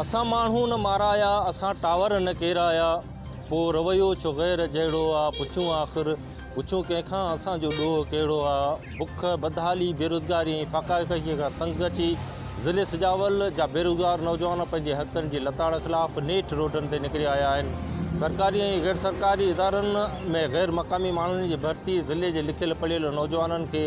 اسان ماڻهو نه مارايا، اسان ٽاور نه ڪيرايا، پوء رويو ڇو غير جهڙو آ، پڇون آخر، پڇون ڪنهن کان اسان جو ڏوهه ڪهڙو آ، بک، بدحالي، بيروزگاري ۽ فاقا ڪشيء کان تنگ اچي ضلعي سجاول جا بيروزگار نوجوان پنهنجي حقن جي لتاڙ خلاف نيٺ روڊن تي نڪري آيا آهن، سرڪاري ۽ غير سرڪاري ادارن ۾ غير مقامي ماڻهن جي ڀرتي ضلعي جي لکيل پڙهيل نوجوانن کي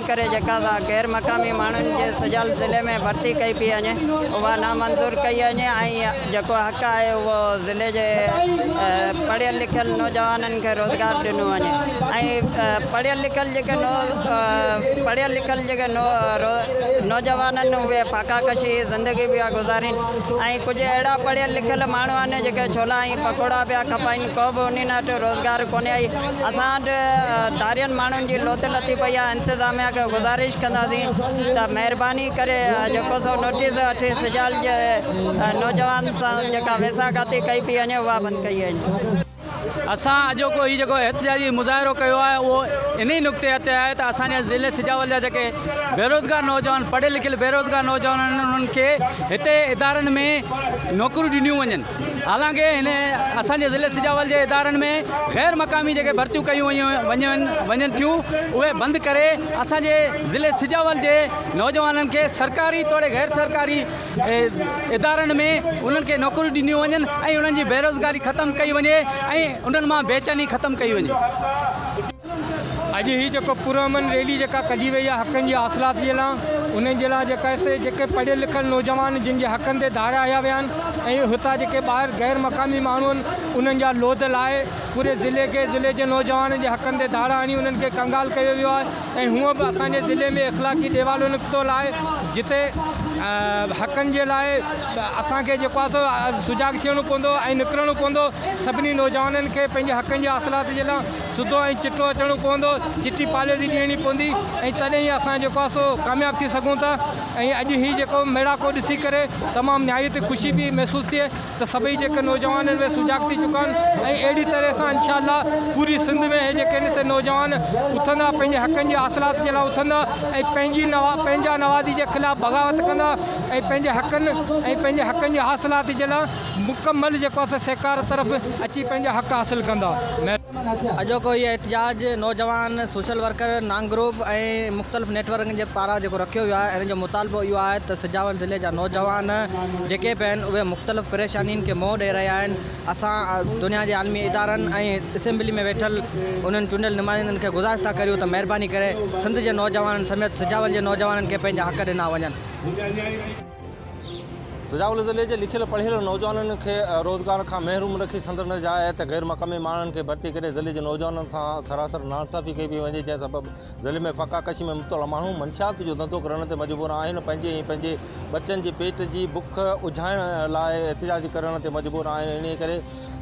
ڪري جيڪا ذات غير مقامي ماڻهن جي سجال ضلعي ۾ ڀرتي ڪئي پئي وڃي اها نامنظور ڪئي وڃي ۽ جيڪو حق آهي اهو ضلعي جي پڙهيل لکيل نوجوانن کي روزگار ڏنو وڃي ۽ پڙهيل لکيل جيڪي نو پڙهيل لکيل جيڪي نو نوجوان آهن اهي فاقا ڪشي زندگي پيا گذارين ۽ ڪجهه اهڙا پڙهيل لکيل ماڻهو آهن جيڪي ڇولا ۽ پڪوڙا پيا کپائين. ڪو به انهن وٽ روزگار ڪونهي آهي، اسان وٽ ڌارين ماڻهن جي لوڌ لٿي پئي آهي، انتظاميا کي گذارش ڪنداسين ته مهرباني ڪري جيڪو سو نوٽيس اٺين سجال جي نوجوانن سان جيڪا ويساهه کاتي ڪئي پئي وڃي اها بند ڪئي وڃي. اسان اڄوڪو هي جيڪو احتجاجي مظاهرو ڪيو آهي اهو انهي نڪتي تي آهي ته اسان جي ضلعي سجاول جا جيڪي بيروزگار نوجوان پڙهيل لکيل بيروزگار نوجوان آهن انهن کي هتي ادارن ۾ نوڪريون ڏنيون وڃن. حالانڪ هن اسان جي ضلعي سجاول جي ادارن ۾ غير مقامي جيڪي ڀرتيون ڪيون وڃن ٿيون اهي بند ڪري اسان جي ضلعي سجاول جي نوجوانن کي سرڪاري توڙي غير سرڪاري ادارن ۾ انهن کي نوڪريون ڏنيون وڃن ۽ انهن جي بيروزگاري ختم ڪئي وڃي ۽ انهن مان بيچيني ختم ڪئي وڃي. اڄ هي جيڪو پرامن ريلي جيڪا ڪڍي وئي آهي حقن جي حاصلات جي لا انهن جي لا جيڪا سي جيڪي پڙهيل لکيل نوجوان جن جي حقن تي ڌاريا هيا ويا آهن ۽ هتان جيڪي ٻاهر غير مقامي ماڻهو آهن انهن جا لوڌ لائي پوري ضلعي کي ضلعي جي نوجوانن جي حقن تي ڌاڙا هڻي انهن کي ڪنگال ڪيو ويو آهي ۽ هونء به اسان جي ضلعي ۾ اخلاقي ڏيوالو نڪتو لا جتي حقن جي لا اسان کي جيڪو آهي سو سجاڳ ٿيڻو پوندو ۽ نڪرڻو پوندو سڀني نوجوانن کي پنهنجي حقن جي حاصلات جي لا سڌو ۽ چٽو اچڻو پوندو، چٽي پاليزي ڏيڻي پوندي ۽ تڏهن ئي اسان جيڪو آهي سو ڪامياب ٿي سگهون ٿا ۽ اڄ هي جيڪو ميڙاڪو ڏسي ڪري تمام نهايت خوشي پئي محسوس ٿئي ته سڀئي جيڪي نوجوان آهن اهي سجاڳ ٿي چڪا آهن ۽ اهڙي طرح سان انشاء الله پوري سنڌ ۾ اهي جيڪي آهن سي نوجوان اٿندا پنهنجي حقن جي حاصلات جي لاء اٿندا ۽ پنهنجي پنهنجا نوازي جي خلاف بغاوت ڪندا ۽ پنهنجي حقن ۽ پنهنجي حقن جي حاصلات جي لاء مڪمل جيڪو اسان سيڪار طرف اچي پنهنجا حق حاصل ڪندا. اڄوڪو هي احتجاج نوجوان سوشل ورڪر نانگ گروپ ۽ مختلف نيٽ ورڪن جي پاران جيڪو رکيو ويو آهي ان جو مطالبو اهو آهي ته سجاول ضلعي جا نوجوان جيڪي به آهن اهي مختلف پريشانين کي منهن ڏئي رهيا آهن اسان دنيا جي عالمي ادارن ۽ اسيمبلي ۾ ويٺل انهن چونڊيل نمائندن کي گذارش ٿا ڪريون ته مهرباني ڪري سنڌ جي نوجوانن سميت سجاول جي نوجوانن کي پنهنجا حق ڏنا وڃن. سجاء الزلي جي لکيل پڙهيل نوجوانن کي روزگار کان محروم رکي سندن جاء تي غير مقامي ماڻهن کي ڀرتي ڪري ضلعي جي نوجوانن سان سراسر ناانصافي ڪئي پئي وڃي جنهن سبب ضلعي ۾ فاقا ڪشي ۾ مبتلا ماڻهو منشيات جو ڌنڌو ڪرڻ تي مجبور آهن پنهنجي ۽ پنهنجي ٻچن جي پيٽ جي بک اجهائڻ لاء احتجاج ڪرڻ تي مجبور آهن انهي ڪري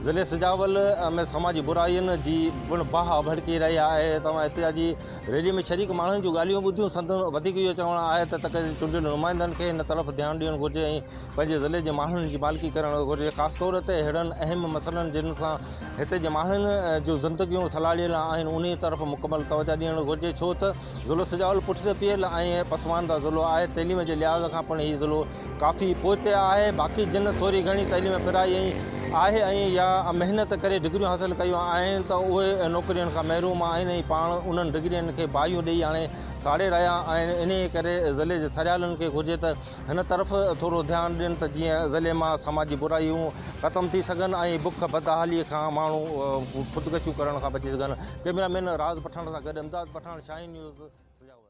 ضلعي سجاول ۾ سماجي برائين جي پڻ باهه ڀڙڪي رهي آهي توهان احتجاجي ريلي ۾ شريڪ ماڻهن جون ڳالهيون ٻڌيون، سندن وڌيڪ اهو چوڻ آهي ته تڪ جي چونڊيل نمائندن کي ان طرف ڌيان ڏيڻ گهرجي ۽ پنهنجي ضلعي جي ماڻهن جي مالڪي ڪرڻ گهرجي خاص طور تي اهڙن اهم مسئلن جن سان هتي جي ماڻهن جون زندگيون سلهاڙيل آهن انهي طرف مڪمل توجه ڏيڻ گهرجي ڇو ته ضلعو سجاول پٺتي پيل ۽ پسمانده ضلعو آهي تعليم جي لحاظ کان پڻ هي ضلعو ڪافي پوئتي آهي باقي جن ٿوري گهڻي تعليم پرائي آهي ۽ يا محنت ڪري ڊگريون حاصل ڪيون آهن ته اهي نوڪرين کان محروم آهن ۽ پاڻ انهن ڊگرين کي باهيون ڏئي هاڻي ساڙي رهيا آهن انهي ڪري ضلعي جي سرهيالن کي گهرجي ته هن طرف ٿورو ڌيان ڏين ته جيئن ضلعي مان سماجي برائيون ختم ٿي سگهن ۽ بک بدحالي کان ماڻهو خودڪشيون ڪرڻ کان بچي سگهن ڪئميرا مين راز پٺاڻ سان گڏ امداد پٺاڻ شاهين نيوز سجاول.